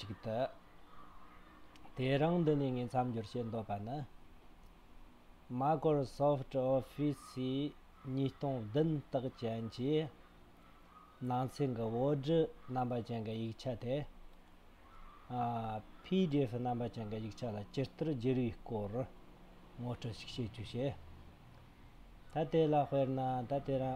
ཅིག་བསྟོད། དེ་རིང་འདི་ནས་ངས་མཚམས་སྦྱོར་བྱེད་འདོད་པ་ནི། Microsoft Office ཉིས་སྟོང་བདུན་དག་ཅན་གྱི་ནང་ཚན་གྱི་བོད་བསྒྲུ་རྣམ་པ་ཅན་གྱི་ཡིག་ཆ་དེ། PDF རྣམ་པ་ཅན་གྱི་ཡིག་ཆ་ལ་ཇི་ལྟར་བསྒྱུར་བའི་སྐོར་ངོ་སྤྲོད་ཞིག་བྱེད་རྒྱུ་བྱས། ད་དེ་ལ་དཔེར་ན་ད་དེ་རང།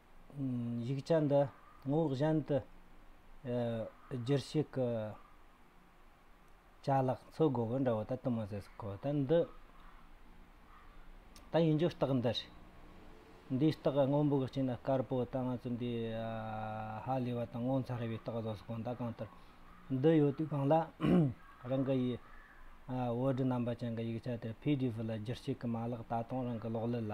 ཡིག་ཆ་འདི་ངོ་བོ་གཞན་དུ་བསྒྱུར་ཤེས་ཀྱི། ཅ་ལག་འཚོལ་དགོས་པ་འདྲ་བོ་ད་དུ་མ་ཟད་སོ་གོ། ད་འདི། ད་ཡིན་རྒྱུ་རྟགས་འདི་རེད། འདིའི་རྟགས་སྔོན་པོ་གི་སྤྱི་ན་དཀར་པོ་ད་ང་ཚོ་འདི། ཧ་ལས་པ་དང་ངོ་མཚར་བའི་རྟགས་བཟོ་སོ་གོ་ད་གང་ལྟར། འདི་ཡོད་དུས་གང་ལ། རང་གི་ཡི། Word རྣམ་པ་ཅན་གྱི་ཡིག་ཆ་དེར PDF ལ་བསྒྱུར་བྱེད་ཀྱི་མ་ལག་ད་དུང་རང་གི་གློག་ཀླད་ལ།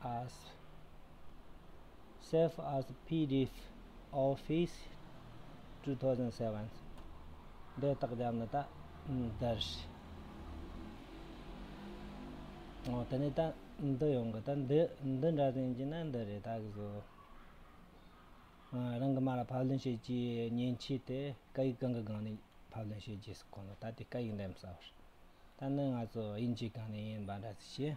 as save as pdf office two thousand seven འདི་དག་བརྒྱབ་ན་ད་འདར་ཞེས་ཨོ་ད་ནི་ད་འདི་ཡོང་གི་ད་འདི་འདི་འདྲ་ཟིན་གྱི་ན་འདི་རེད་ད་གཟོ་རང་གི་མ་ལ་ཕབ་ལེན་བྱེད་ཀྱི་མཉེན་ཆས་དེ་སྐད་ཡིག་གང་གི་སྒང་ནས་ཕབ་ལེན་བྱེད་རྒྱུ་སོགས་གོ་ན་ད་དེ་སྐད་ཡིག་འདེམས་ས་བར་ད་ནི་ང་ཚོ་དབྱིན་ཇིའི་སྒང་ནས་ཡིན་པ་འདྲ་ཟིག་ཞེས་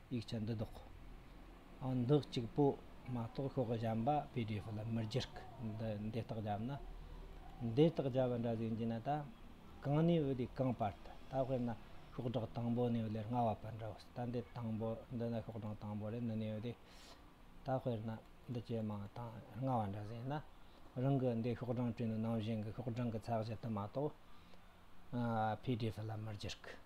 ཡིག་ཆ་འདི་བདོག་ཨ་འདི་གཅིག་པོ་མ་གཏོགས་ཤོག་བཞམས་པ pdf ལ་མི་སྒྱུར་གི་འདི་འདེ་རྟགས་བརྒྱབ་ན་འདེ་རྟགས་བརྒྱབ་པ་འདྲ་ཟིག་འགྱིན་ན་ད་གང་ནས་འོས་དེ་གང་པར་ད་ད་དཔེར་ན་ཤོག་སྒྲག་དང་པོ་ནས་འོས་ལེར་སྔ་བ་པར་འདྲ་བོ་ཟིག་ད་འདི་དང་པོ་འདི་ན་ཤོག་སྒྲག་དང་པོ་རེད་འདི་ནས་འོས་དེ་ད་དཔེར་ན་འདི་ཇེ་མང་དང་སྔ་བ་འདྲ་ཟིག་ན་རང་གི་འདི་ཤོག་སྒྲང་བྲིས་ནས་ནང་བཞིན་གྱི་ཤོག་སྒྲང་གི་ཚགས་གཞི་དུ་མ་གཏོགས pdf ལ་མི་སྒྱུར་གི།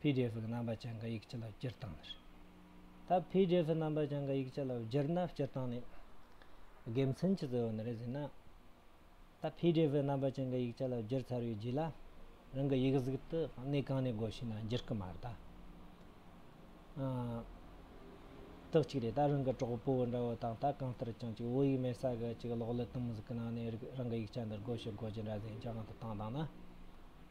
PDF གི་རྣམ་པ་ཅན་གྱི་ཡིག་ཆ་ལ་སྤྱིར་བཏང་ནི་རེད། ད PDF གི་རྣམ་པ་ཅན་གྱི་ཡིག་ཆ་ལ་སྦྱར་ན་སྤྱིར་བཏང་ནི་དགེ་མཚན་གྱི་གཙོ་བོ་ནི་རེད་ཟེར་ན། ད PDF གི་རྣམ་པ་ཅན་གྱི་ཡིག་ཆ་ལ་སྦྱར་ཚར་བའི་རྗེས་ལ་རང་གི་ཡིག་གཟུགས་དེ་གནས་གང་ནས་དགོས་ཤེ་ན་སྒྱུར་གི་མ་རེད་ད། དག་ཅིག་རེད་ད་རང་གི་གྲོགས་པོ་འདྲ་བོ་དང་ད་གང་ལྟར་ཀྱང་ཅིག་བོད་ཡིག་མེད་ས་ག་ཅིག་གློག་ཀླད་དུམ་བུ་ཟིག་གི་ནང་ནས་རང་གི་ཡིག་ཆ་འདི་དགོས་ཤེ་དགོས་ཀྱི་འདྲ་ཟེར་ཡིན་ཀྱང་ང་དང་ཐང་དང་ན།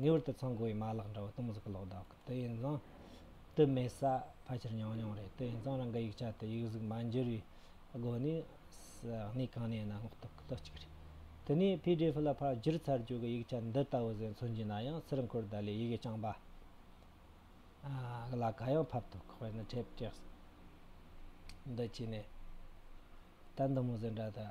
ངེས་པར་དུ་ཚང་དགོས་པའི་མ་ལག་འདྲ་བོ་སྟོང་ཟིག་གི་ལོག་ལྡང་གི་དུས་ཡིན་ཙང། དུས་མེད་ས་ཕལ་ཆེར་ཉུང་ཉུང་རེད་དུས་ཡིན་ཙང་རང་གི་ཡིག་ཆ་དེ་ཡིག་གཟུགས་མ་འགྱུར་བའི་སྒོ་ནས་གནས་གང་ནས་ཡིན་ན་སྔོག་ཐུབ་ཀི་ལོ་གཅིག་རེད། དེ་ནས PDF ལ་ཕར་བསྒྱུར་ཚར་རྗེས་ཀྱི་ཡིག་ཆ་འདི་ལྟ་བུ་ཟད་མཚོན་གྱི་ན་ཡང་སིར་འཁོར་ད་ལོའི་ཡི་གེ་རྐྱང་པ་ལ་ག་ཡང་ཕབ་ཐུབ་ཁག་པའི་ནི་ཁྲེབ་ཀྱི་འདི་བྱས་ནས་ད་འདི་མོ་ཟད་འདྲ་ད།